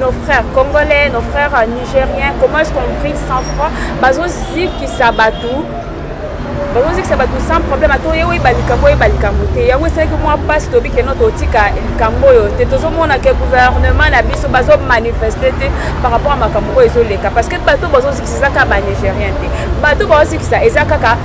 nos frères congolais, nos frères nigériens, comment est-ce qu'on brille sans froid Bazo zikisa batou, bazo zikisa batou sans problème. Ato yewe balikambo ye balikambo te. Yango esalaki mwa pasi tobi ke no totika likambo oyo te. Tozomona ke gouvernement na biso bazo manifeste te par rapport à makambo oyo ezoleka parce que bato bazo eza kaka banigérien te bato baosikisa eza kaka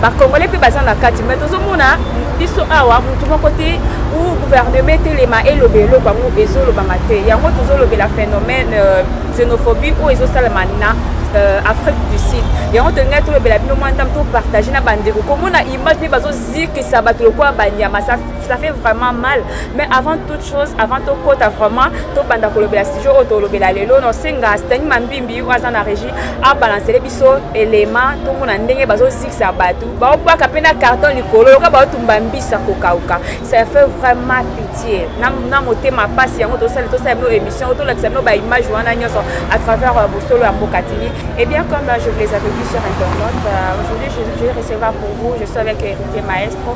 bacongolais mpe baza na kati mai tozomona biso awa motu moko te ou gouvernement etelema eloba eloko yango ezolobama te yango tozolobela phénomène euh, xénophobie oyo ezosalama na euh, afrique du sud yango tolingaki tolobela bino mwa ndambe topartage na bandeko komona image mpe bazozikisa bato lokola banyama ça fait vraiment mal mais avant toute chose avant tokota vraiment tobanda kolobela sujet oyo tolobela lelo nosenga stani mambimbi oyo aza na régie abalancele biso elema tomona ndenge bazozikisa bato baobwaka mpe na carton likolo yoka baotumba mbisa kokauka ça fait vraiment pitié na motema mpasi yango tosali tosala bino émission oyo tolakisa bino baimage wana nyonso à travers euh, bosolo ya mboka tini et eh bien comme euh, je vous les avais dit sur internet euh, aujourd'hui je, je vais recevoir pour vous je suis avec héritier maestro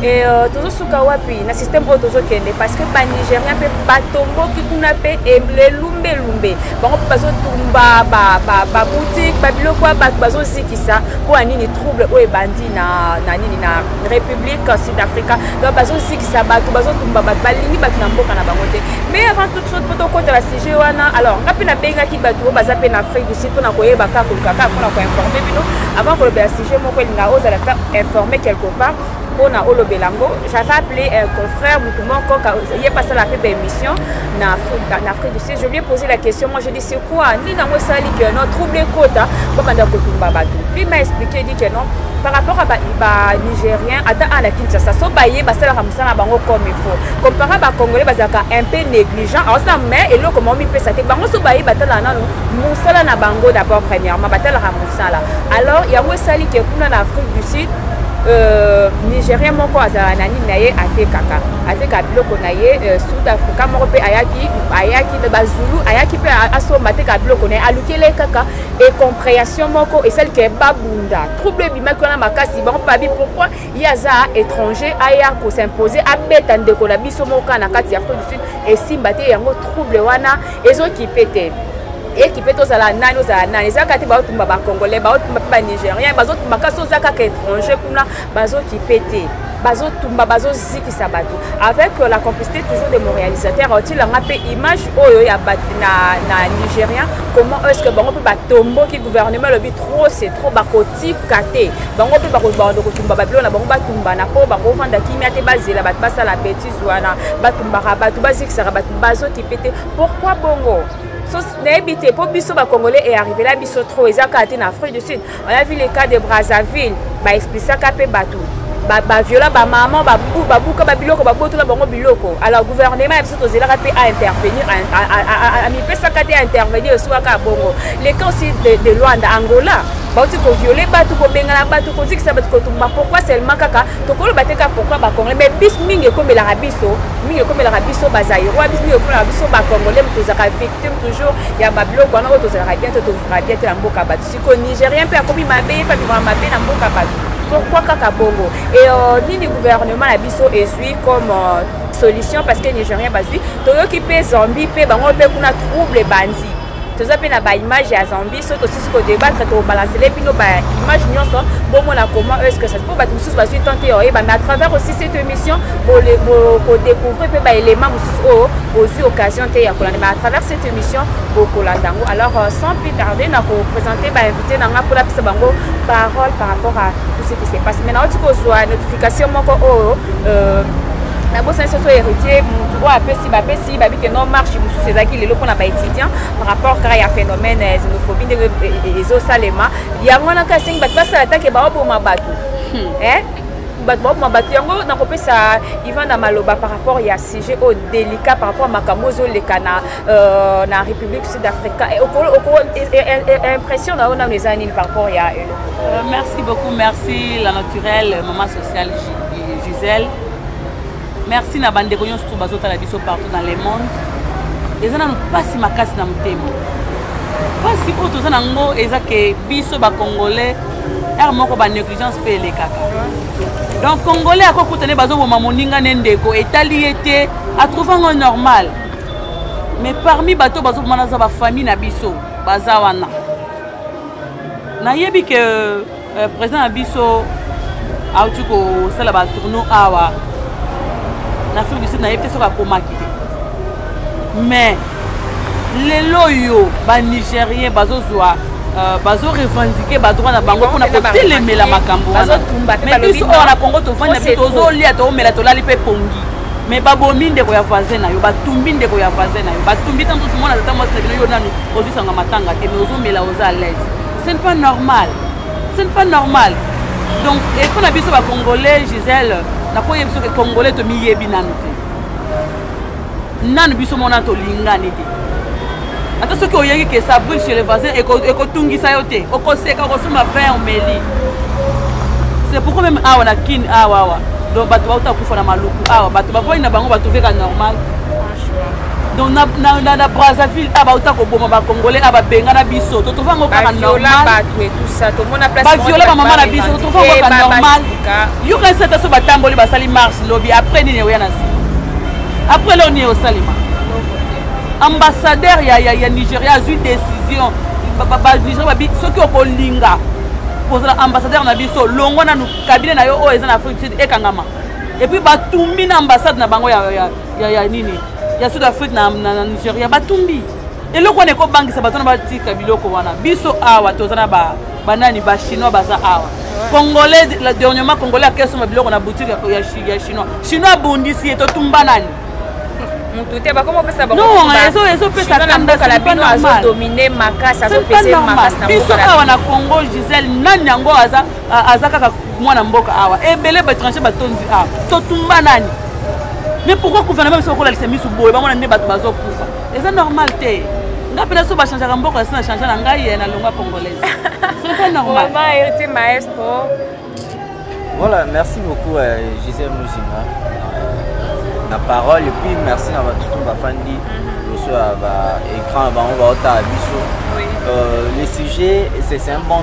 Et euh, tozosuka wapi na système oyo tozokende parce que banigérien mpe batomboki kuna mpe elumbelumbe bango mpe bazotumba baboutique babiloko ya bato bazozikisa mpo ya nini trouble oyo ebandi na, na nini na république sud africa donc bazozikisa bato bazotumba bato balingi bato na mboka na bango te mais avant toute chose mpo tokota na sujet wana alors nga mpe nabengaki bato oyo baza mpe na afrique du sud mpo na koyeba kaka koluka kaka mpo na koinforme bino avant kolobela je moko elinga ozala ta informe quelque part mpona olobela yango j'avais appelé un confrère motu moko ye pasala mpe baémission na afrique du sud je lui ai posé la question moi je dis c'est quoi nini yango esalaki que non trouble ekota babanda kotumba bato lui m'a expliqué dit que non par rapport à banigérien ata a na kinshasa so baye basalaka mosala na bango comme il faut compara bacongolais bazalaka un peu négligent aosala mais eloko moko mipesa te bango so baye batalaka nano mosala na bango d'abord premièrement batalaka sala alors yango esali ke kuna na afrique du sud Euh, nigérien moko azala na nini na ye atekaka ateka biloko na ye euh, sud africa moko mpe ayaki ayaki bazulu ayaki mpe asomba ateka biloko na ye alukeli ye kaka incomprehension moko esali ke babunda trouble ebimaki wana makasi bango babi pourkui ye aza étranger aya kosimpose abeta ndeko na biso moko kaka na kati ya afrique du sud esimba te yango trouble wana ezo kipe te ekipe tozala nani ozala nani eza kaka te baotumba bacongolais baotumba mpe banigérien bazotumba kasi oza kaka étranger kuna bazokipe te bazotumba bazozikisa bato avec euh, la complicité toujours de mon réalisateur otilanga mpe image oyo ya bato na, na nigérien comment est ce que bango mpe batomboki gouvernement elobi trop c'est trop bakotika te bango mpe bakobanda kotumba babilo na bango batumbana mpo bakofanda kimia te bazela bato basala betise wana batumbaka bato bazikisaka bato bazokipe te pourkui bongo nayebi te mpo biso bacongolais earrivela biso trop eza kaka te na afrique du sud on a vu le cas de brazzaville baexplisaka mpe bato baviola bamama babuka babiloko babotola bango biloko alors gouvernement ya biso tozelaka mpe aintervenir amipesaka te aintervenir esukaka bongo le cas aussi de luanda angola bauti koviole bato kobengana bato kozikisa bato kotumba pourkui seulement kaka tokoloba te kaka pourkui bacongolais mais bis mingi ekomelaka biso mingi ekomelaka biso bazairois bis mingi ekomelaka biso bacongolais tozalaka victime toujours ya babiloko wana oyo tozalaka bien te tovivaka bien te na mboka bato siko nigérien mpe akomi mabe ye mpe avivaka mabe na mboka bato pourkui kaka bongo e euh, nini gouvernement na biso ezwi comme euh, solution parce que nigérien bazwi toyoki mpe zambie mpe bango mpe kuna trouble ebandi toza mpe na baimage ya zambie soki tosisi kodebatre tokobalansele bino baimage nyonso bomona comment est ce que ça mpo bato mosusu bazwi temps te oyeba mais à travers aussi cette émission bokodécouvrir mpe baélément mosusu oyo bozwi occasion te ya kolanda mais à travers cette émission bokolanda yango alors euh, sans plus tarder na koprésente bainvité na ngai mpo napesa bango parole par rapport à tout ce qui se passe mais nauti kozwa notification moko oyo euh, nabosani soso héritier motu oyo apesi bapesi Balobi babi que non marche mosusu ezalaki lelo mpona ba étudiants par rapport kaka ya phénomène ya xénophobie ndenge ezosalema yango wana kaka esengi bato basala take baoboma bato hmm. bato baokoma bato yango nakopesa ivan na maloba par rapport ya sujet oyo délicat par rapport ya makambo ozoleka na, euh, na république sud africa impression na yo nano eza nini par rapport ya eloko euh, merci beaucoup merci la naturelle maman sociale gisèle merci na bandeko nyonso to bazotala biso partout dans le monde eza nanu mpasi makasi na motema mpasi oyo toza na yango eza ke biso bacongolais r moko banégligence mpe elekaka donc congolais akokuta nde bazoboma moninga ne ndeko etali ye te atrouve yango normal mais parmi bato bazoboma naza bafamille na biso baza wana nayebi ke euh, président na biso auti kosala batourno awa na afrique du sud nayebi te soki akomaki te mais lelo oyo banigérien bazozwa Euh, bazo revendiquer badroit na bango mpona kotelemela makambo wanamais biso oyo na congo tovanda bi tozolia toomela tolali mpe pongi mais babomi ndeko ya voisin na yo batumbi ndeko ya voisin na yo batumbi ntango tozomona tata mwasi na bino yo nanu ozwisanga matanga te mais ozomela oza alaise ce n'est pas normal ce n'est pas normal donc epo na biso bacongolais gisele nakoki biso ke congolais tomiyebi nanu te nanu biso mona tolingani te ata soki oyebi ke ça brille chez le voisin ekotungisa yo te okoseka okosomba vin omeli c'est pourquoi même awa na kin awa awa donc bato bauta kufa na maluku awa bato bavoi na bango bato veka normal donc na, na, na, na brazzaville a ah, bauta koboma bacongolais a ah, babengana biso totrouve yango kaka normalbaviola bamama na biso totrouve yango kaka normal yokanisi ata so batamboli basali marche lobi après nini ekoya na nsima après leo nini osalema ambassadeur ya, ya, ya nigeria azwi décision banigeria babi soki okolinga kozala ambassadeur na biso longwa nanu kabine na yo oyo eza na afrique du sud ekangama epuis batumbi na ambassade na bango ya, ya ya, ya nini ya sud afrique na, na, na nigeria batumbi eloko wana ekobangisa bato na batika biloko wana biso awa toza na banani ba bachinois baza awa congolais dernièrement congolais akesomba biloko na boutique ya chinois chinois abundisi ye totumba nani motu te bakoma opesa bangoezopesadominemakasibiso awa na congo gisele nani yango aza aza kaka mwana mboka awa ebele baétranger batondi awa totumba nani mais pourquoi gouvernement biso okolalisa misu boye bamona nde bato bazokufa eza normal te nga mpe naso bachangeaka mboka yasi na change na ngai ye na longwa congolaise c'est pas normal héritier maestro voilà merci beaucoup euh, gisèle muzinga na parole et puis merci na batutu bafandi liboso ya baécran bango baotala biso le sujet c'est un bon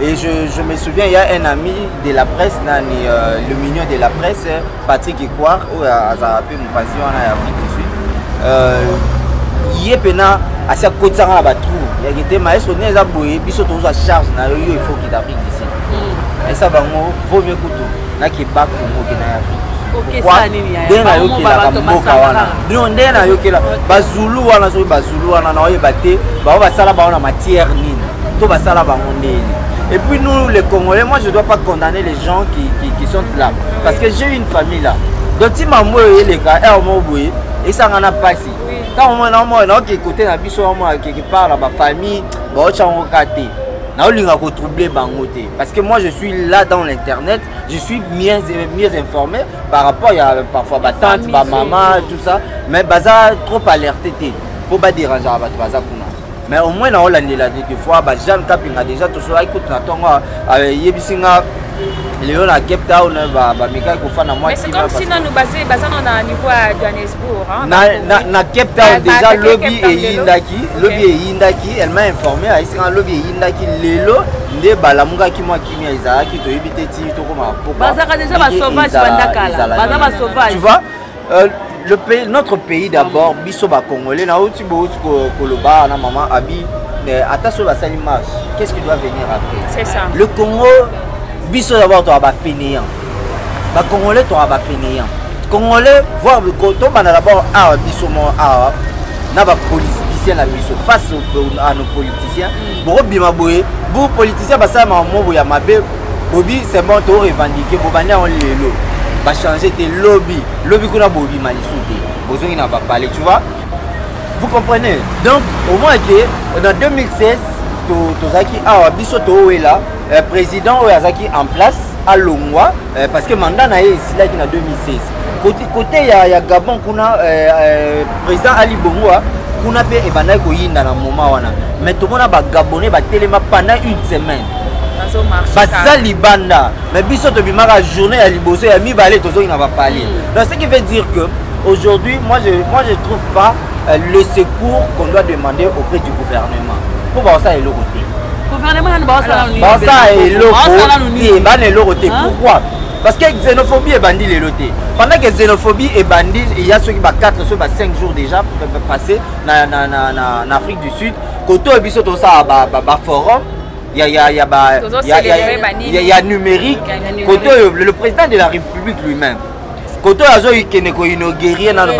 Et je, je, me souviens, il y a un ami de la presse, nani, euh, le mignon de la presse, Patrick Ikwar, ou Azarape, mon passion en Afrique du Sud. Euh, ye pena asi akotisaka na batrou yaki te maestro nini eza boye biso tozwa charge na yo yo efoki d'afrique d'ici esa bango vaut mieux kutu na keba kongo ke na yaokelaka mboka wana bino nde nayokela bazulu wana soki bazulu wana naoyeba te bango basala bango na matière nini to basala bango ndeni Et puis nous, les Congolais, moi je ne dois pas condamner les gens qui, qui, qui sont là. Parce que j'ai une famille là. Donc si maman est les gars, elle m'a oublié, et ça n'en a pas si. Quand on m'a dit, on a écouté, on a vu, on a quelque part, la famille, on a écouté. naolinga ko troubler bango te parce que moi je suis là dans l'internet je suis mieux, mieux informé par rapport ya parfois batante bamama tout ça mais baza trop alerte te mpo baderangeaka bato baza kuna mais au moins naolandela te te fois bajane kapinga déjà tosolaki kutu na ntongo ayebisi nga lelo na cape town bamekaki kofanda mwasi nanu baza na niveau ya johannesbourg na cape town deja lobi eyindaki lobi eyindaki elle m'a informé ayisaka lobi eyindaki lelo nde balamukaki mwa kimia ezalaki toyebi te ti tokoma pokwa bazalaka deja basauvage bandakala baza basauvage Euh, le pays, notre pays d'abord, biso ba Congolais, na outi bo outi koloba na maman Abi, mais ata so basali marche, qu'est-ce qui doit venir après C'est ça. Le Congo, biso d'abord to ba fainéant. Ba Congolais to ba fainéant. Congolais voir le coton bana d'abord ah biso mo ah na ba politiciens na biso face à nos politiciens. Mm. Bo bima boye, bo politiciens basala mamobo ya mabe bobi c'est bon to revendiquer bobandi yango lelo bachange te lobi lobi kuna bobima lisu te bozongi na bapale tu vois vous comprenez donc au moins ke na 2016 tozalaki awa biso towela euh, président oyo azalaki en place alongwa euh, parce que mandat na ye esilaki na 2016 côté, côté ya, ya gabon kuna euh, euh, président ali bongo hein, kuna mpe ebandaki koyinda na moment wana mais tomona bagabonais batelema pendant une semaine baza libanda mais biso tobimaka journée ya liboso ya mibale tozongi na bapale mm. donc ce qui veut dire que aujourd'hui moi je, moi je trouve pas euh, le secours qu'on doit demander auprès du gouvernement mpo bakosala eloko te basala eloko te bana eloko te pourquoi parce que xénophobie ebandi lelo te pendant que xénophobie ebandi eya soki ba 4 soki ba 5 jours déjà passé na, na, na, na, na afrique du sud koto biso tosala baforum ba, ba ya ya ya ba ya ya ya, ya numérique kote oyo le président de la république lui-même kote oyo azokende koinaugurie nano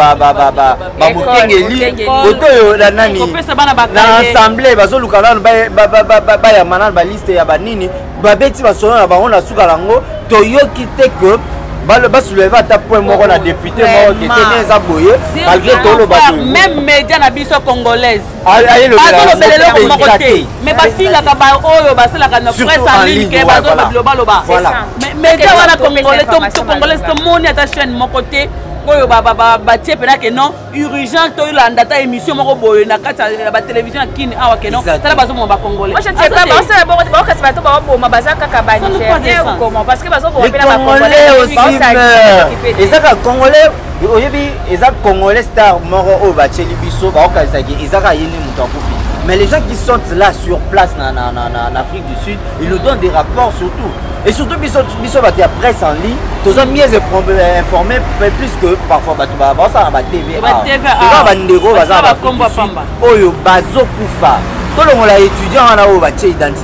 bamokengeli kote oyo na nani na assemblée bazoluka nano bayamba nano baliste ya banini babeti masolo na bango na suka yango toyoki te que basouleve ata point moko na député moko ketene eza boye malgré toloba même média na biso congolaise bazolobela eloko moko te me bafingaka baoyo basalaka na presse en ligne ke bazolobaloba media wana congolais to congolais tomoni ata chaîne moko te oyo batie mpena ke non urgent tolanda ata émission moko boye na kati ya batelevizio ya kini awa ke non tala bazomoma bacongolaisbakokasi bato baboma baza kaka banigérien ou comment parce que bazoboma mpe na bacongolais eza kaka congolais oyebi eza congolais star moko oyo batyeli biso baokanisaki eza kaka ye nde moto akufi mais les gens qui sont là sur place na, na, na, na, na afrique du sud ils nous donnent des rapports surtout et surtout biso biso bato ya presse en ligne toza mieux euh, informé plus que parfois bato bazala na batv toza bandeko baza na oyo bazokufa tolongola étudiant wana oyo batye identité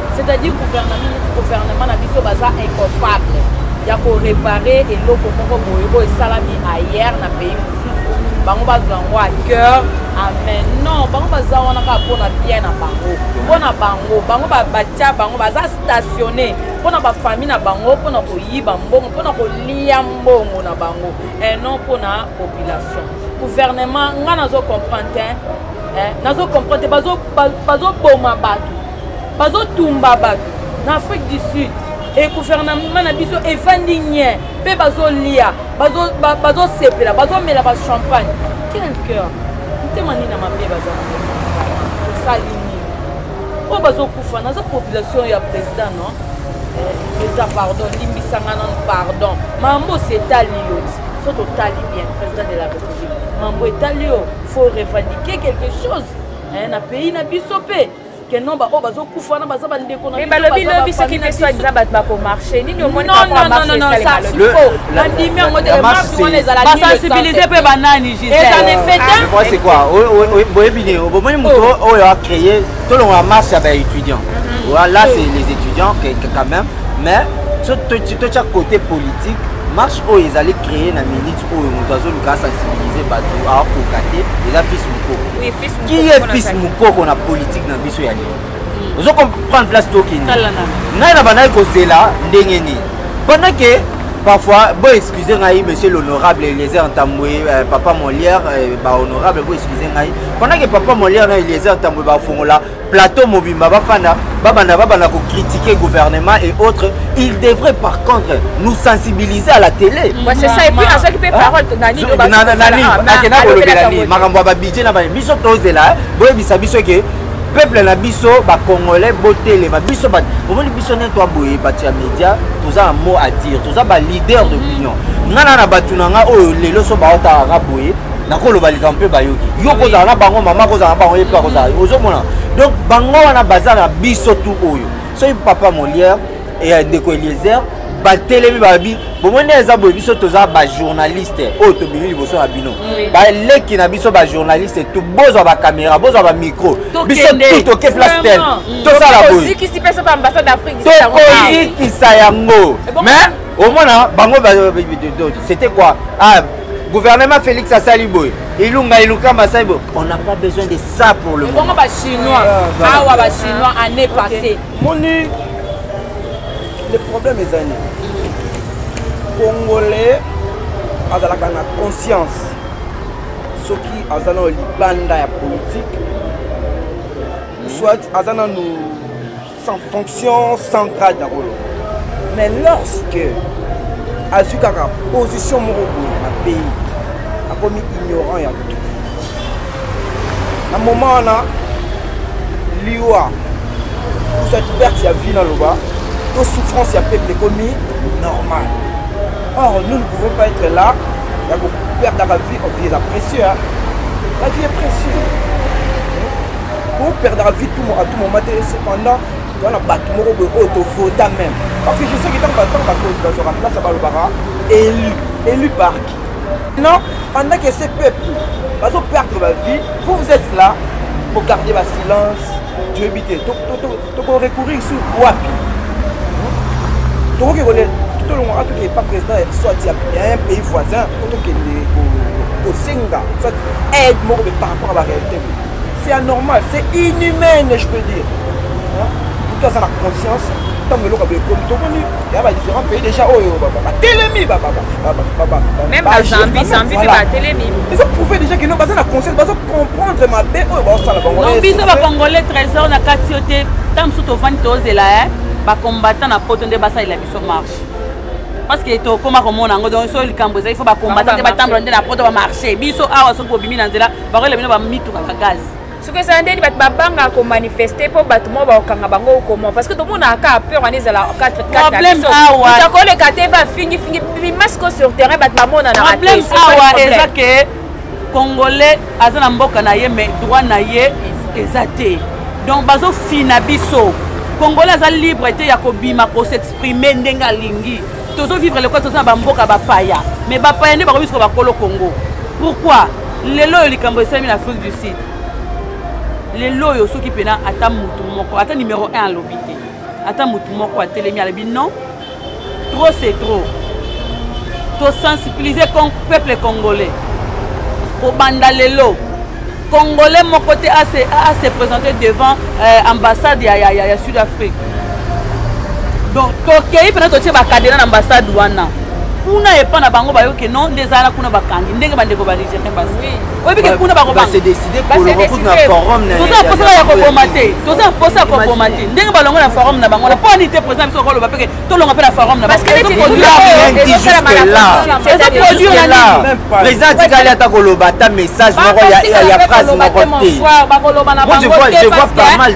c'est-à-dire gouvernement gouvernement na biso baza incapable ya korepare eloko moko boye oyo esalami ayer na pays mosusu bango bazwa yango a cœur amen non bango baza wana kaka mpona bien na bango mpona bango bango batya bango baza stationne mpona bafamille na bango mpona koyiba mbongo mpona kolia mbongo na bango et non mpona population gouvernement ngai nazo comprendre te nazo comprendre te bazoboma bato bazotumba bato na afrique du sud e gouvernement na biso efandi nye mpe bazolia bazosepela bazomela bachampagne quel cœur motema nini na mabe baza osali nini oyo bazokufa naza population ya président non eza eh, pardon limbisanga nano pardon mambo osi etali yo so totali bien président de la république mambo etali yo faut revendiquer quelque chose eh, na pays na biso mpe que non baoyo bazokufa wana baza bandeko na balobi lobi soki nde soit disant bato bakomarche nini omoni bandimi yango te marche wana ezalabasensibilize mpe banani giseoyebi nini bomoni moto oyo acreye tolongola marche ya baétudiant là c'est les étudiants quand même mais totya côté politique marche oyo ezali créer na minute oyo moto azoluka asensibilize bato akoka te eza fils mokoko qui est fils mukoko na politique na biso ya lelo hmm. ozo comprendre place tokende ngai na bandaki kozela ndenge nini pendant ke parfois bo excuse ngai monsieur l'honorable eliezer ntambwe euh, papa molière euh, bahonorable bo excuse ngai pendant ke papa molière na eliezer ntambwe bafongola plateau mobimba bafanda babanda babanda kocritiquer gouvernement et autres il devrait par contre nous sensibiliser à la télé akenda kolobela nini makambo ya babidje na baye biso tozela boyebisa biso ke peuple na biso bacongolais botelema biso omoni biso nde twaboye bato ya média toza na mot à dire toza baleader d'opinion ngai na na bato na ngai oyo lelo so baotalaka boye nakoloba likambo mpe bayoki yo kozala na bango mama kozala na bango ye mpe akozala ozomona donc bango wana baza na biso tu oyo soki papa molière ya ndeko eliezer batelemi babi bomoni eza boye biso toza bajournaliste oyo tobimi liboso na bino baleki na biso bajournaliste tu bozwa bakamera bozwa bamicro biso tu toke place tel mm. tosala boyetokokisa yango mais omona bango c'était quoi ah, gouvernement félix asali boye ilunga ilukamba asali boye on n'a pas besoin de ça pour le moment bachinois ah, awa bachinois année passée moni le problème eza nini congolais azalaka na conscience soki aza nano libanda ya politike soit aza nano sans fonction sans grade na kolo mais lorsque azwi kaka position moko boye na pays akomi ignorant ya tout na moment wana liwa ozwaki perte ya vie naloba to souffrance ya peuple ekomi normal or nous ne pouvons pas être là ya koperdaka vie vie eza précieux la vie est précieux Ko perdre vie tout à tout moment te cependant toza na bato moko boye oyo tovota meme parce que je sais que ntango batango bakonzi bazwaka place ya balobaka élu élu par qui non pendant que ce peuple bazo perdre ba vie vous vous êtes là bogarde basilence toyebi te toko recourir sur wapi tokoki kole tolongaka toke epa président ya biso ati ya un pays voisin po tokende kosenga soit aide moko be par rapport à baréalité c'est anormal c'est inhumaine je peux dire moto aza na conscience ntango eloko ya boye ekomi tomoni ya ba différents pays déjà oyo batelemi même na zambie zambie mpe batelemi ezo prouve déjà kino baza na conscience bazo comprendre mabe oyo baosala bango biso bacongolais trésor na kati yo te ntango mosusu tovandi tozela e bacombattant na poto nde basalela biso marche parce que tokoma komona yango donc so likambo ezali fo bacombattant nde batambola nde na poto bamarche biso awa soki bobimi na nzela bakoyela bino bamituka ba gaze soki ezala ndeni bato babangaka komanifeste mpo bato moko bakokanga bango okoma parce que tomonaka kaka peur wana ezala 4atakoleka te bafingifingi bimasiko sur terrain bato bamonanaableme awa eza ke congolais aza na mboka na ye mais droit na ye eza te donc bazofina biso congolais aza libre te ya kobima kosexprime ndenge alingi tozo vivre lokola toza na bamboka bapaya mais bapaya nde bakomi soka bakolo congo pourquoi lelo oyo likambo esalemi na afrique du sud lelo oyo soki mpena ata motu moko ata numero 1 alobi te ata motu moko atelemi alobi non trop c'est trop tosensibilize peuple congolais kobanda lelo Congolais moko te a se, a se présenter devant euh, ambassade ya, ya, ya, ya Sud-Afrique. Donc tokei mpena totie bakadena na ambassade wana kuna epa na bango bayoke no nde ezala kuna bakangi ndenge bandeko ba nigérien basi oyebike kuna bakobantoza mposa ya koboma te toza mposa ya koboma te ndenge balongo na forum na bango na mpo ani te président biso okoloba peke tolonga mpe na forum na président atikali ata koloba ata message moko ya phrase moko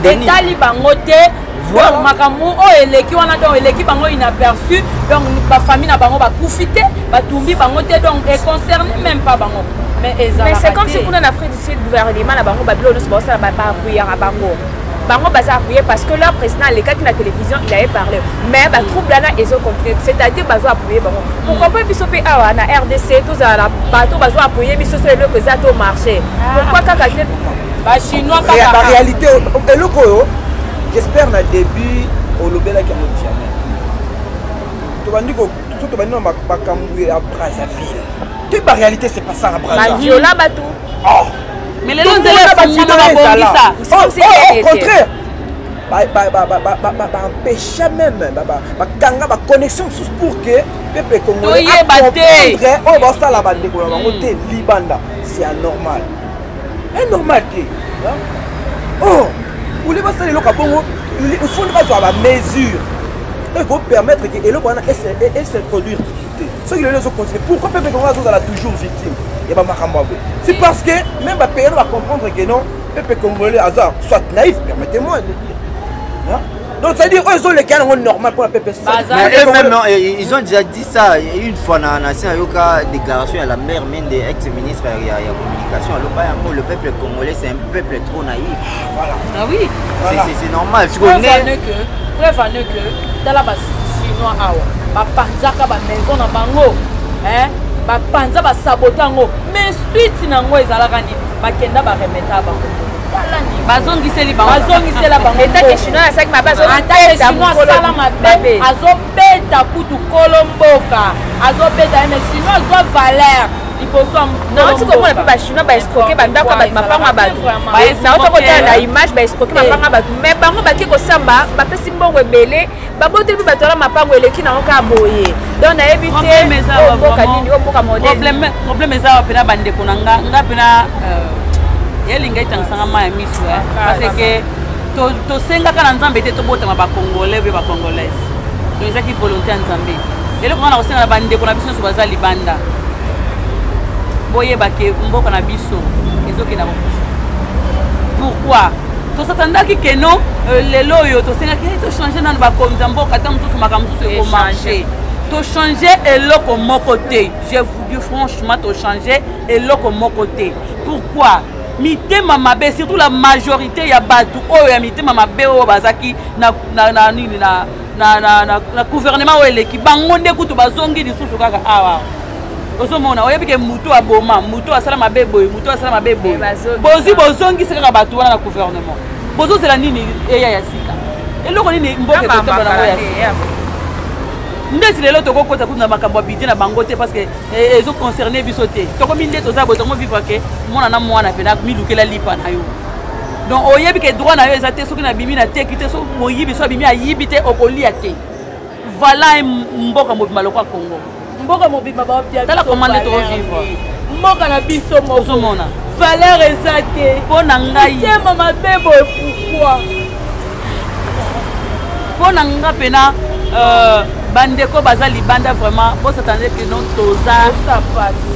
teetali bango te donc makambo oyo eleki wana donc eleki bango inaperçu donc bafamille na bango bakufi te batumbi bango te donc econcerne même pas bango mais ezalaka te mais c'est comme si kuna na afrique du sud gouvernement na bango babilo nyonso baosala bakuyaka bango bango baza apuye parce que leur président alekaki na télévision il avait parlé mais batrouble wana ezo continue c'est-à-dire bazo apuye bango pourquoi mpe biso mpe awa na rdc tozala na bato bazo apuye biso so eloko eza to marché pourquoi kaka te bachinois baréalité eloko oyo j'espère na début olobelaki yango jamais tobandi so tobandi na makambo ya brazzaville te baréalité c'est pas ça na brazzaville oh. mais lelo nzela efungwama babongisa au contraire baempêcha même bakanga baconnexion mosusu pour que peuple congolais oyo basala bandeko na bango te hmm. libanda c'est anormal anormal te oh uli basala eloko ya bongo ifundi bazwa bamesure ekopermettre ke eloko wana esintroduire soki lelo ezocontinue pourquoi peuple congo azozala toujours victime ya bamakambo yango c'est parce que même bapeyano bacomprendre que non peuple congolais aza soit naïf permettez moi de dire donc ça veut dire oyo ezoleka yango normal mpona peuple eh, ils ont déjà dit ça une fois na nasi nayoka déclaration ya la mère mende ex ministre ya communication aloba yango le peuple congolais c'est un peuple trop naïf Voilà. Ah oui. Voilà. C'est normal. Preuve en est que, preuve en est que, tala ba Chinois awa, ba panzaka ba maison na bango, hein, ba panza ba sabota yango, mais suite na yango ezalaka nini? Bakenda ba remeta bango. bazongiseli bazongisela bangoatake chinois asaki mabe azobetaasala mabe azobeta kutu kolo mboka azobeta ye mais chinois azwa valeur liboso naoti komona mpe no baescroke bandako ya bato mapango ya bato naota kotala na image baescroke mapango ya bato mai bango bake kosamba bapesi mbongo ebele baboti mpe bato wana mapango eleki nango kaka boye donc nayebi te mboka nini oyo mboka modeproblème eza wa mpena bandeko na nga nga mpena euh, elinga etangisanga ma ya miso parce que tosengaka na nzambe te tobotama bacongolais mpe bacongolaise to ezaki volonté ya nzambe eloko nga na kosenga na bandeko na biso nyonso baza libanda boyeba ke mboka na biso ezokenda kokufa pourquoi tosatandaki ke non euh, lelo oyo tosengaki eh, tochange nano bakonzi ya mboka ata mosusu makambo mosusu ekomarche tochange eloko moko te je vous dis franchement tochange eloko moko te pourquoi mitema mabe surtout la majorité ya bato oyo ya mitema mabe oyo bazalaki na, na, na, nini na, na, na, na, na gouvernement oyo eleki bango nde kutu bazongi lisusu kaka awa ozomona oyebi ke motu aboma motu asala mabe boye motu asala mabe boye eh, bozwi bozongisi kaka bato wana na gouvernement bozozela nini eya ya sika eloko nini mboka ekotambola nango ya sika ndeti lelo tokokota kutu na makambo ya bidie na bango te parce que eh, ezo concerne biso te tokomi nde toza boye tokomi vivre ke mwana na mwana mpe namilukela lipa na yo donc oyebi ke droit na yo eza te soki nabimi na teki te soki moyibi so abimi ayibi te okolia te vala mboka mobima lokwa congo mboka mobima batala koma nde tokovivre mboka na biso mozomona valeur eza te mpo na ngai tema mabe boye pourkoi mpo na nga mpena euh, bandeko baza libanda vraiment bosatande que non toza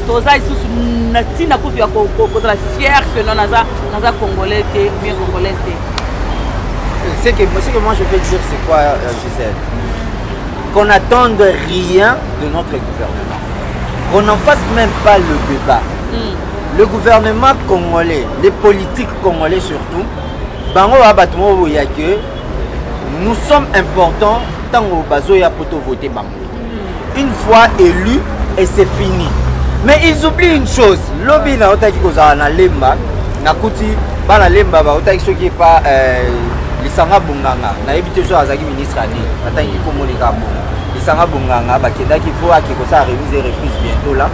toza lisusu na ntina kutu ya kozala fier que non naza naza congolais te bien congolaise te ce que, ce que moi je peux dire c'est quoi euh, Gisèle qu'on n'attende rien de notre gouvernement qu'on n'en fasse même pas le débat mm. le gouvernement congolais les politiques congolais surtout bango ba bato moko boye ya ke nous sommes importants ntango bazoya mpo tovote bango mm. une fois élu et c'est fini mais ils oublient une chose lobi naotaki kozala na lemba nakuti bana lemba baotaki soki epa euh, lisanga bonganga nayebi te soki azalaki ministre ya nini natangi komoneka bongo lisanga bonganga bakendaki fo ake kosala remise et reprise bientôt la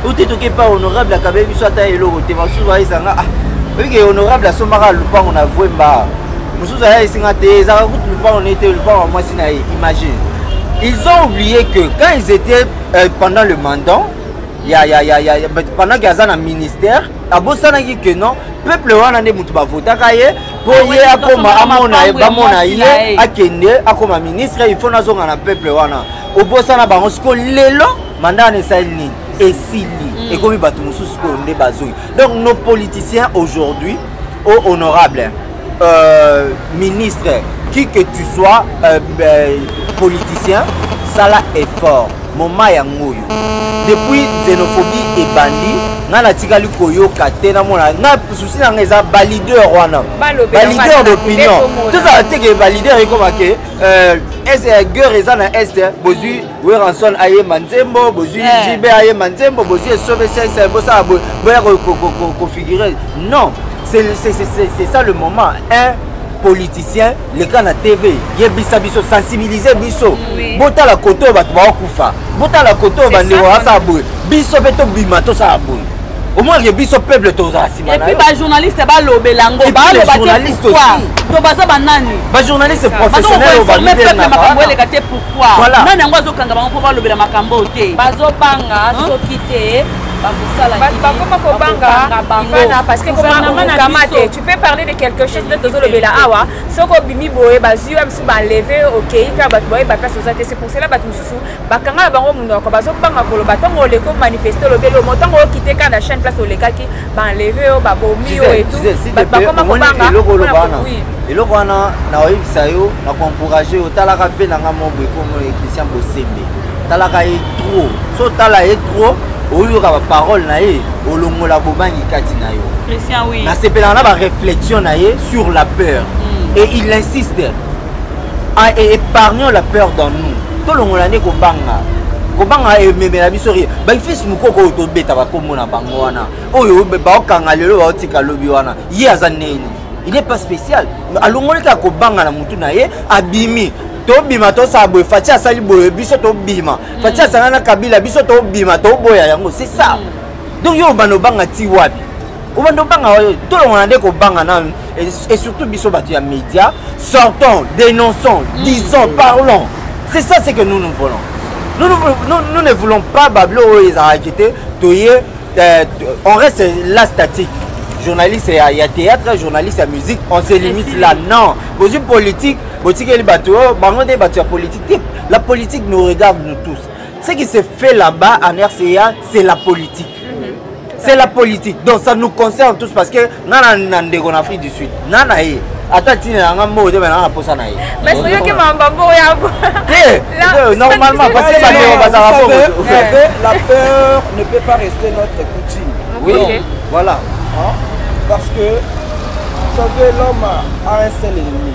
ote toke pa honorable akabeli biso ata eloko te basusu bayesanga ah, oyike honorable asombaka lupango na vwemba mosusu ayayisi nga te ezalaka kutu lupango na ye te lupango ya mwasi na ye imagine ils ont oublié que quand ils étaient euh, pendant le mandant ya, ya, ya, ya, pendant ke aza na ministère abosanaki ke non peuple wana nde moto bavotaka ye mpo ah ye akoma amona ye bamona ye akende akoma ministre il faut nazonga na peuple wana obosana bango siko lelo mandat wana esali nini esili mm. ekomi bato mosusu oyo nde bazongi donc nos politiciens aujourd'hui o oh, honorable euh, ministre qui que tu sois euh, euh, politicien sala effort moma yango oyo depuis xénophobie ebandi ngai natikali koyoka te namona ngai susi na ngai eza balider wana balider d'opinion tozala teke balider ekoma ke euh, guerre eza na est bozwi Weranson ayemba nzembo bozwi eh. JB ayemba nzembo bozwi esobe sese bosala boye boya kofigure non c'est ça le moment un politicien leka na tv yebisa biso sensibilize biso botala kote oyo bato baokufa botala kote oyo bandeko basala boye biso mpe tobima tosala boye omonake biso peuple tozala nsima naepuis bajournaliste balobela ngo balobaato baza banani bajournaliste professionnelforme peuple makambo eleka te pourquoi nani yango azokanga bango mpo balobela makambo oyo te bazobanga soki te bakoma kobanga bangana parce que komaokama te tu peux parler de quelque chose nde tozolobela awa soki obimi boye bazwi wa mosusu baleve okei kaka bato boye baplace oza te c'est pour cela bato mosusu bakanga na bango monoko bazobanga koloba ntango oleki omanifeste olobeli omo ntango okite kaka na chaine place olekaki baenleve yo babomi yo etbakoma kobanga eloko wana na oyebisa yo na koencourage yo talaka mpe na nga moko ekomoye christian bosembe talaka ye trop so otala ye trop oyoka baparole na ye olongola bobangi kati na yo nasepelaka na bareflexion na ye sur la peur mm. et il insiste Ah, et épargnons la peur dans nous. Tout le monde est kobanga. Kobanga ememela biso ri. Ba fils mukoko oyo tobeta ba kombo na bango wana. Oyo ba okanga lelo ba otika lobi wana. Ye aza nini? Il n'est pas spécial. Alongoli ka kobanga na mutu na ye abimi. tobima tosala boye fati asali boye biso tobima mm. fati asangana na kabila biso tobima toboya yango c'est ça mm. donc yo obanda obanga ti wapi obanda obanga oyo tolongana nde kobanga nanu et surtout biso bato ya média sortons dénonçons mm. disons parlons c'est ça ce que nous nous voulons nous, nous, nous, nous ne voulons pas bablo oyo ezalaki te toye euh, on reste la statique journaliste ya, ya théâtre journaliste ya musique on se limite là non bozwi politique botikeli bato oyo oh, bango nde bato ya politique te la politique nous regarde nous tous ce qui se fait là-bas en rca c'est la politique c'est la politique donc ça nous concerne tous parce que nga na ndeko na afrique du sud nga na ye ata ntina na nga mbongo te bana na mposa na ye basoyoki mamba mbongo yango te normalement parce que bandeko bazala bongo la peur ne peut pas rester notre coutume oui voilà parce que vous savez l'homme a un seul ennemi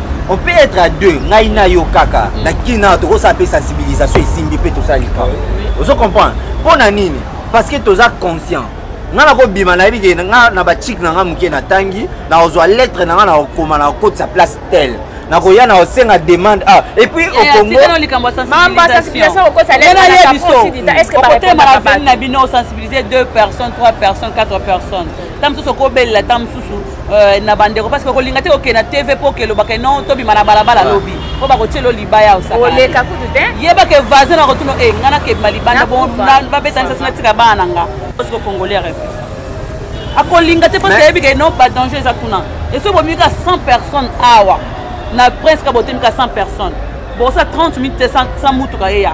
on peut être à deux ngai na yo kaka mm. na kini nana tokosala mpe sensibilisation esimbi mpe tosala likambo ozo comprendre mpo na nini parce que toza conscient ngai nakobima nayebi ke ngai na bachike na ngai moke natangi nakozwa lettre na ngai nakokoma nakokotisa place tele nakoya na osenga demande ah et puis au Congo mamba sensibilisation okosa lelo na biso okotema na vie na bino sensibiliser deux personnes trois personnes quatre personnes ta mosusu okobelela ta mosusu euh, na bandeko parce que okolinga te okende na tv mpo okelobaka no tobima na balabala ah. lobi mpo bakotyela libaya osaoleka kutu te yebaka vasin na kotuna e eh, ngai nakebima libanda babetanisa sina tika bana na nga parce que congolais refuse akolinga te parce que ayebi ke no badanger eza kuna eso bomika 100 personnes awa na prince kabotemika 100 personnes bosa 30 minutes te 100 mutuka eya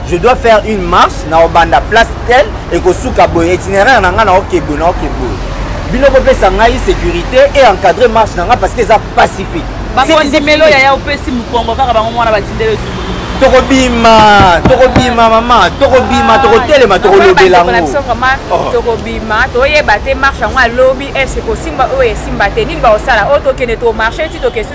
je dois faire une marche na obanda place tel ekosuka boye itinéraire na ngai na oke boye na oke boye bino bopesa ngai sécurité et encadre marche na ngai parce que eza pacifique bakondimelo yaya opesi mokongo kaka bango mwana batindele esusu tokobima tokobima mama tokobima tokotelema tokolobela yango tokobima toyeba te marche yango alobi ese kosimba oyo esimba te nini baosala oyo tokende tomarche ti tokesi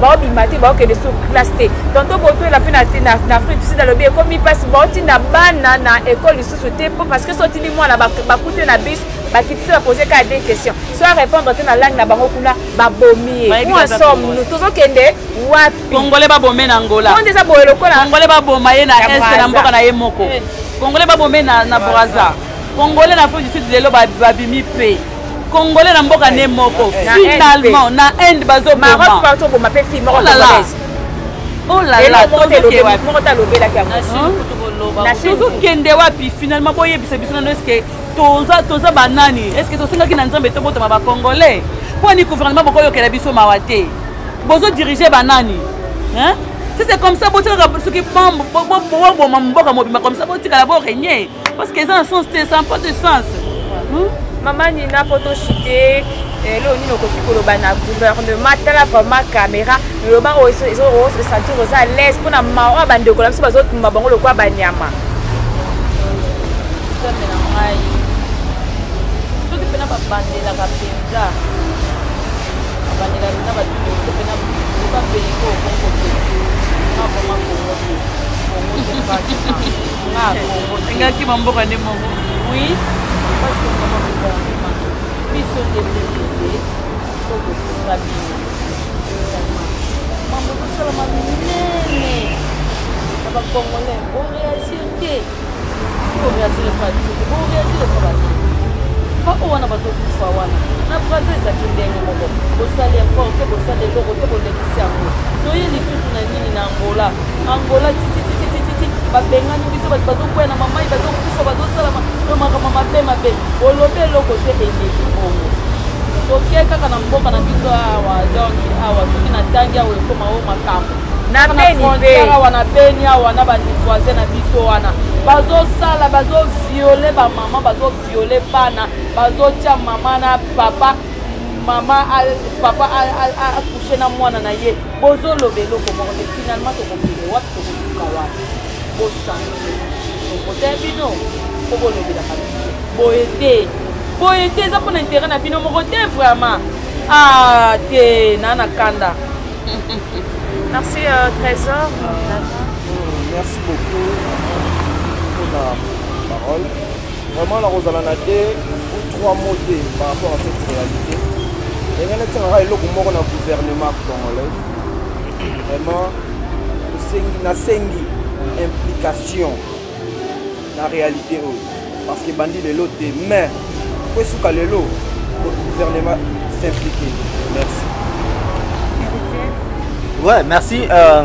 baobima te baokende sur place te tonto botoyela mpe na afrique du sud alobi ekomi mpasi baotinda bana na ekole lisusu te mpo parce que sotindi mwana bakuti na bus bakitisi bapose kaka de question so arépondre te na langue na bango kuna babomi ye po ensemble nous tozokende wapi congolais babome na angola onde eza boye lokola congolais baboma ye na est na mboka na ye moko eh. congolais babome na braza congolais na afrique du sud lelo babimi mpe congolais na mboka ne moko finalement na inde bazoboma mpe fille moko congolaise tozokende wapi finalement boyebisa biso nano eske toza banani eske tosengaki na nzambe tobotama bacongolais mpo ani gouvernement bokoyokela biso mawa te bozodirige banani si c'est comme ça botikaka soki boboma mboka mobimba comme ça botikala boregne parce que eza na sens te ça pas de sens hmm? mama nina mpo toshite lelo nini okoki koloba na gouvernement tala vraiment caméra loba oyo ezosentir oza alaise mpo na mawa bandeko na biso bazotumba bango lokola banyama soki mpena babandelaka mpenza babandelaka mpenza bato mpena loba peleko okongo te na vraiment kongo te kongo te nga kongo engaki bamboka nde moko oui parce que vraiment gouvernement biso nde pepele to kokoka bino mambo tosalama minene na bacongolais boreagir te boreagir epa biso te boreagir epa banani baoyo wana bazokufa wana na braza ezalaki ndenge moko bosali effort te bosali eloko te bolekisi yango toye lisusu na nini na angola angola titititititi babengani biso bato bazokwea na mamai bazokufa bazosalama to makambo mabe mabe olobi eloko te eleki bongo toke kaka na mboka na biso awa donc awa soki natangi awa ekoma o makambo na beni mpe awa na beni awa na bavoisin na biso wana bazosala bazoviole bamama bazoviole bana bazotya mama na papa mama papa akushe na mwana na ye bozoloba eloko moko te finalement tokokende wapi tokosuka wapi bosange tokota ya bino mpo bolobelaka biso boye te boye te eza mpo na intere na bino moko te vraiment a ah, te naa na kanda merci euh, trésor merci beaucoup mpona parole Vraiment nakozala na te ou trois mots te par rapport à cette réalité. Ndenge natengaka eloko moko na gouvernement congolais. Vraiment tosengi nasengi implication na réalité oyo parce que bandi lelo te mais po esuka lelo gouvernement s'impliquer. Merci. Ouais, merci. Euh...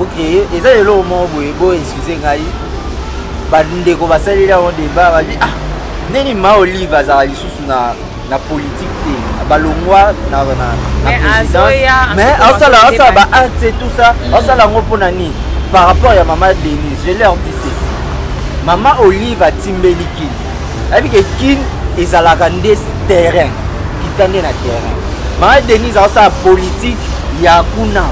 ok eza eloko moko boye bo excuse ngai bandeko basaleli yango deba babi ah ndeni ma olive azala lisusu na na politique te balongwa na présidence mais asala asala ba acte tout ça mm. asala yango mpo na nini par rapport ya mama denise je leur dis ceci mama olive atimbeli kini ayebi ke kin ezalaka nde terrain kita nde na terrain maa denise azosala politike ya kuna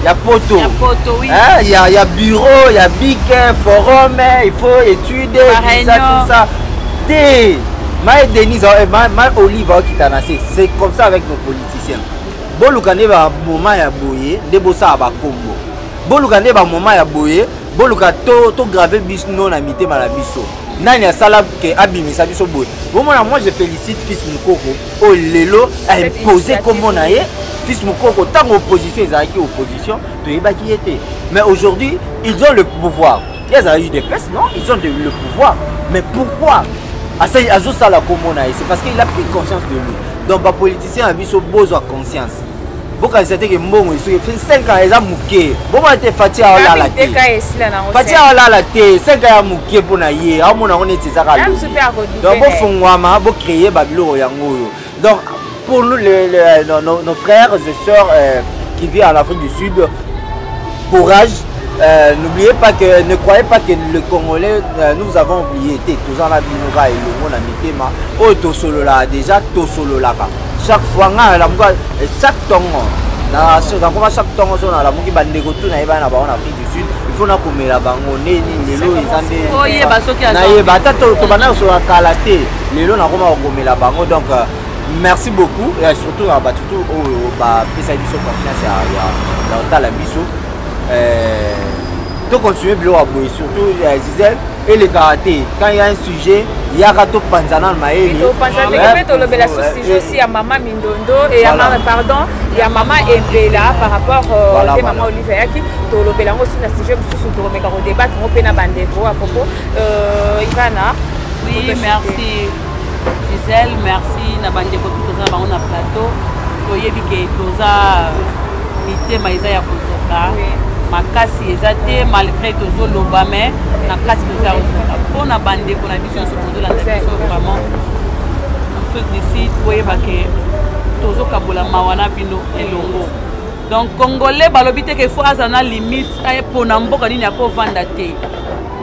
ya poto ya, poto, oui. eh, ya, ya bureau ya bike forum eh, il faut étude visa tout ça te mae denise eh, mae olive aokita na se c'est comme ça avec nos politiciens boluka nde bamoma ya boye nde bosala bakombo boluka nde bamoma ya boye boluka tograve to biso na mitema na biso nani asala ke abimisa biso boye bomona moi je félicite fils mokoko oyo oh, lelo impose nkombo na ye fils mokoko ntango opposition ezalaki opposition toyebaki ye te mais aujourd'hui ils ont le pouvoir ye azalaki udps non ils ont le pouvoir mais pourquoi azosala nkombo na ye c'est parce qu'il a pris conscience de lui donc bapoliticien na biso bozwa conscience bokanisa te ke mbongo esuki 5 ans eza moke bomona te fati aolala te fati aolala te 5 ans ya moke mpo na ye aomona yango neti eza kalodonc bofongwama bocreye babiloko yango oyo donc pour nous, les, les, nos, nos, nos, frères et sœurs euh, qui vivent en Afrique du Sud, courage. Euh, N'oubliez pas que, ne croyez pas que le Congolais, euh, nous avons oublié, tous en la vie, nous va et le monde à Mitema, oh, Tosolola, déjà, Tosololaka. chaque fois ngai nalamuka eh, chaque ntongo nakoma chaque ntongo so nalamuki bandeko tu nayebana na bango na afrique du sud ifo nakomela bango nde nini lelo eza ndenayeba ata tobanda kosola kala te lelo nakoma kokomela bango donc euh, merci beaucoup et surtout na bato tu oyo bapesaki biso confiance ya otala biso euh, tocontinue biloko ya boye surtout ya euh, gisele elekaka te quand ya un sujet yaka topanza nano mayeopanza ndenge mpe tolobela susujet aussi ya mama mindondo pardon ya mama embela par rapport euh, te mama olive ayaki tolobela yango aussi na sujet mosusu tokomeka kodebate yango mpe na bandeko ya propos euh, ivana oui merci Gisèle merci na bandeko tout toza na bango na plateau toyebi ke toza mitema eza ya kozoka makasi eza te malgré tozoloba me na kati toza kozoka mpo na bandeko na biso nyonso tozolanda biso vraiment afrique du sud boyeba ke tozokabola mawa na bino elongo donc congolais balobi te ke fo aza na limite ayepona mboka nini akovanda te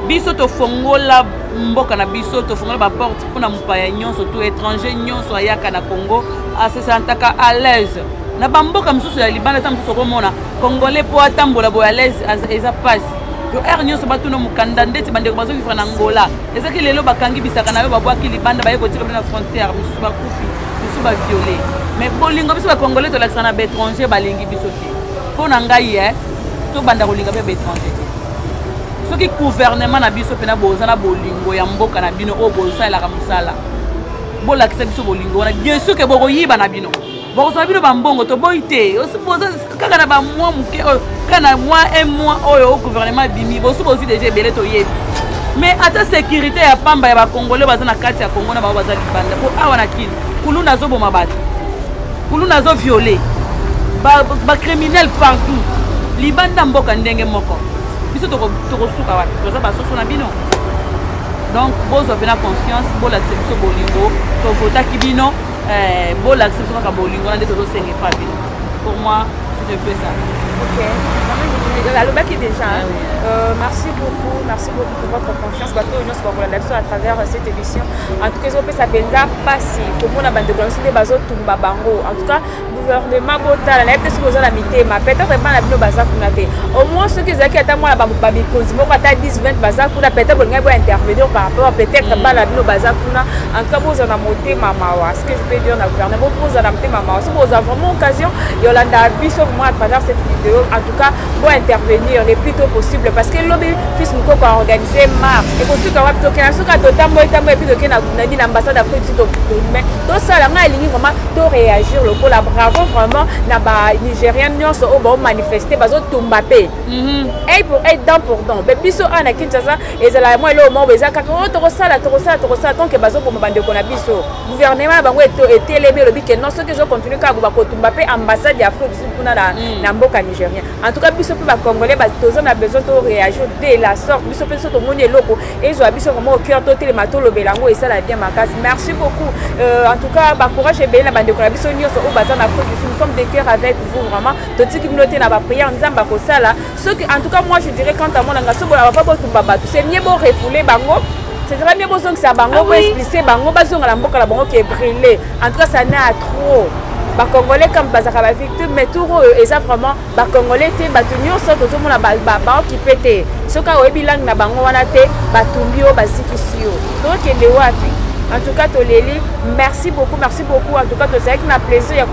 biso tofongola mboka na biso tofongola baporte mpona mopaya nyonso to étranger nyonso ayaka na congo asesantaka à l'aise na bamboka mosusu ya libanda ntango mosusu okomona congolais mpo atambola boye à l'aise eza mpasi yo aire nyonso batuna mokanda ndeti bandeko bazovivre na angola ezaki lelo bakangi bisaka na yo babwaki libanda baye kotika bino na frontière mosusu bakufi mosusu baviole mais bolingo biso bacongolais tolakisa na baétranger balingi biso mpo na ngai e tobanda kolinga mpe baétranger te soki gouvernement na biso mpena boza na bolingo ya mboka na bino oyo bosalelaka mosala bolakisa biso bolingo wana bien sûr ke bokoyiba na bino bokozwa bino bambongo toboyi te boza kaka na bamwa moke oyo kaka na mwa un mois oyo gouvernement abimi bosu bozwi deja ebele toyebi mais ata sécurité ya pamba ya bacongolais baza na kati ya congo na bango baza libanda mpo awa na kini kuluna azoboma bato kuluna azo viole bacriminel ba partout libanda mboka ndenge moko biso tokosuka wapi toza basoso na bino donc bozwa mpena confiance bolakisa biso bolingo tovotaki bino eh, bolakisa biso kaka bolingo na nde tozosenga epa bino pour moi c'est un peu ça okay. alobaki déjà ah, oui. euh, merci beaucoup merci beaucoup votre confiance bato oyo nyonso bakolanda biso à travers euh, cette émission en tout cas ezopesa mpenza mpasi komona bandeko na biso nde bazotumba bango en tout cas gouvernement botala nayebi te soki oza na mitema peut-être epai na bino baza kuna te au moins soki ezalaki ata mwana bamikonzi moko ata 10 20 baza kuna peut-être bolingai bointervenir par rapport peut-être mm. bana bino baza kuna en tout cas bozala na motema mawa ce que je peux dire na gouvernement bozala na motema mawa soki bozala vraiment occasion yolanda biso vraiment à travers cette vidéo cas pour intervenir le plus tôt possible parce que lobi fils mukoko a organisé marche ekosuka wapi tokenda suka totamboyi tamboyi epuis tokenda nabi na ambassade afrique du mais tosala ngai elingi vraiment to réagir lokola bravo vraiment na ba nigérien nyonso oyo baomanifeste bazotumba mpe ei pour ei dent pour dent mpe biso awa na kinshasa ezala mwa eloko moko eza kaka o tokosala tokosala tokosala tonke bazoboma bandeko na biso gouvernement na bango etelemi elobi ke non soki ezocontinue kaka bakotumba mpe ambassade ya afrique kuna na, mm. na mboka nigérien en tout cas biso mpe bacongolais toza na besoin to réagir de la sorte biso mpe biso tomoni eloko ezwa biso vraiment au cœur totelema tolobela yango esala bien makasi merci beaucoup euh, en tout cas bacourage ebele na bandeko na biso nyonso oyo baza na afrique du sud nous sommes de cœur avec vous vraiment totiki bino te na baprière nzambe akosala soki en tout cas moi je dirais quant à moi nanga soki bolaka botumba bato c'est mieux borefoule bango c'est très bien bozongisa bango boexplise bango bazonga na mboka na bango ke brille en tout cas ça na trop bacongolais comme bazalaka bavictime mais tour oyo eza vraiment bacongolais te bato nyonso tozomona baokipe te soki oyebi langue na bango wana te batumbi yo bazikisi yo tokende wapi en tout cas toleli merci beaucoup merci beaucoup en tout cas tozalaki na plaisir ya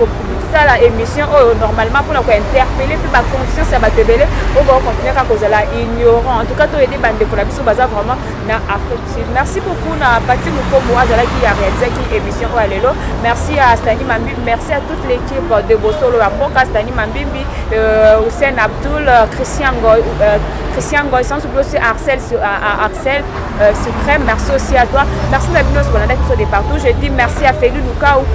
sala émission oyo normalement mpona kointerpele mpe baconscience ya bato ebele oyo bakokontinue kaka kozala ignorant en tout cas toyede bandeko na biso baza vraiment na afrique sud merci beaucoup na pati mokombo azalaki ya réalisaki émission oyo ya lelo merci à stani mambimbi merci à toute l'équipe de bosolo ya mboka stani mambimbi euh, hussein abdoul christian goy, euh, christian goy sans oublier aussi arcel, euh, arcel Euh, suprême merci aussi à toi merci na bino sokolanda biso de partout je dis merci à feli lukau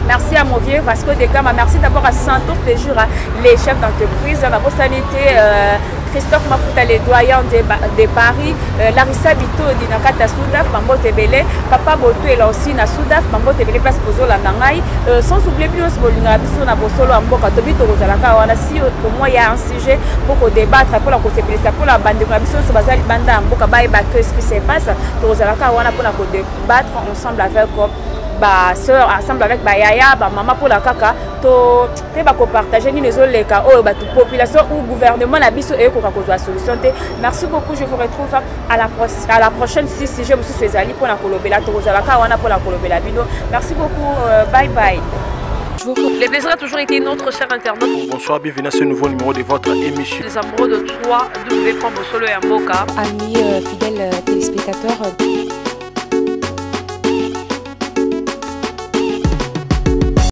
merci à mon vieux vasco de gama merci d'abord à santour de jour les chefs d'entreprise na bosani te euh, christophe mafuta le doyen de, de paris euh, larissa bitodi na kati ya sudaf bambote ebele papa botuela aussi na sudaf bambote ebele place kozolanda ngai euh, sans oublie bino nyonso bolingaka biso na bosolo ya mboka tobi tokozalaka wana si omoi ya sujet mpo kodebatre mpo na kosepelisa mpo na bandeko na biso nyonso baza libanda ya mboka bayeba que ce qui se passe tokozala kaka wana mpo na kodebatre ensemble avec ba sœur ensemble avec ba yaya ba mama pona kaka to te ba ko partager ni les oleka oyo ba population ou gouvernement na biso e ko ka ko solution te merci beaucoup je vous retrouve à la, pro à la prochaine si sujet mosusu ezali mpona kolobela tokozala kaka wana mpona kolobela bino merci beaucoup euh, bye bye Les plaisirs a toujours été notre cher internaute. Bonsoir, bienvenue à ce nouveau numéro de votre émission. Les amoureux de 3 W. Solo et Amboka. Amis euh, fidèles euh, téléspectateurs. Euh,